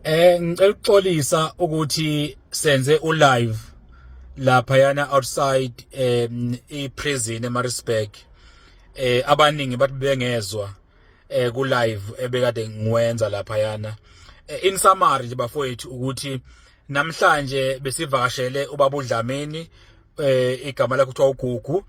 Eh ngicela ukuxolisa ukuthi senze u live lapha yana outside um i prison eMaritzburg eh abaningi bathi bengezwa eh ku live ebekade ngiwenza lapha yana eh, in summary nje bafowethu ukuthi namhlanje besivakashele ubabudlameni eh igama lakhe kuthiwa uGugu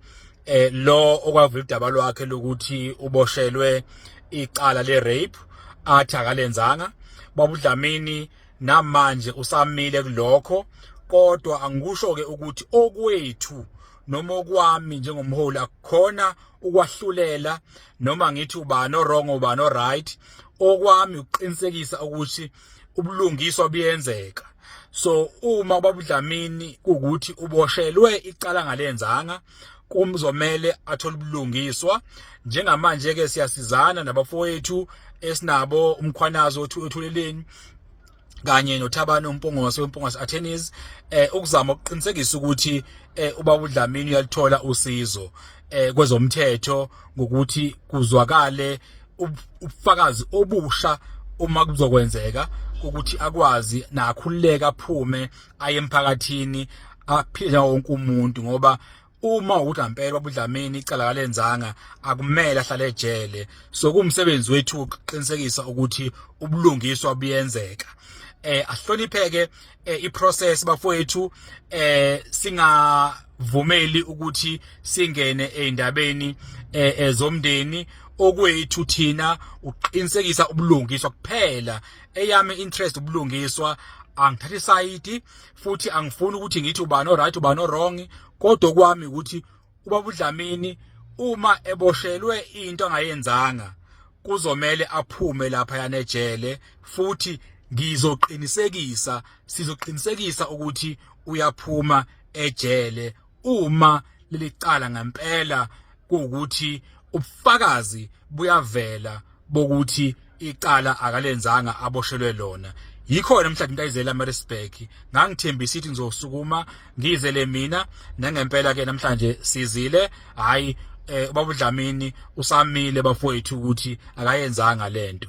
eh lo okwavula udaba lwakhe lokuthi uboshelwe icala le rape athi akalenzanga babudlamini namanje usamile kulokho kodwa angikusho ke ukuthi okwethu noma okwami njengomholi akukhona ukwahlulela noma ngithi ubani orong ubani oright okwami ukuqinisekisa ukuthi ubulungiswa buyenzeka so uma babudlamini ukuthi uboshelwe icala ngalenzanga kumzomele athole ubulungiswa njengamanje ke siyasizana nabafowethu esinabo umkhwanazo othuleleni kanye noThabani uMpungose weMpungose Attorneys eh ukuzama ukuqinisekisa ukuthi eh ubaba uDlamini uyalithola usizo eh kwezomthetho ngokuthi kuzwakale ubufakazi obusha uma kuzokwenzeka ukuthi akwazi nakhululeka aphume aye emphakathini aphile wonke umuntu ngoba uma ukuthi ampela babudlamini icala kalenzanga akumele ahlale ejele so kumsebenzi wethu ukuqinisekisa ukuthi ubulungiswa buyenzeka eh ahlonipheke eh, iprocess bafowethu eh singavumeli ukuthi singene eindabeni eh, eh, zomndeni okwethu thina uqinisekisa ubulungiswa kuphela eyami interest ubulungiswa angithathi side futhi angifuni ukuthi ngithi ubani oright ubani wrong kodwa kwami ukuthi ubaba uDlamini uma eboshelwe into angayenzanga kuzomele aphume lapha yanejele futhi ngizoqinisekisa sizoqinisekisa ukuthi uyaphuma ejele uma lelicala ngempela kuwukuthi ubufakazi buyavela bokuthi icala akalenzanga aboshelwe lona yikhona mhla ngintayizela eMaritzburg ngangithembisa ithi ngizosukuma ngizele mina nangempela ke namhlanje sizile hayi eh ubaba uDlamini usamile bafowethu ukuthi akayenzanga lento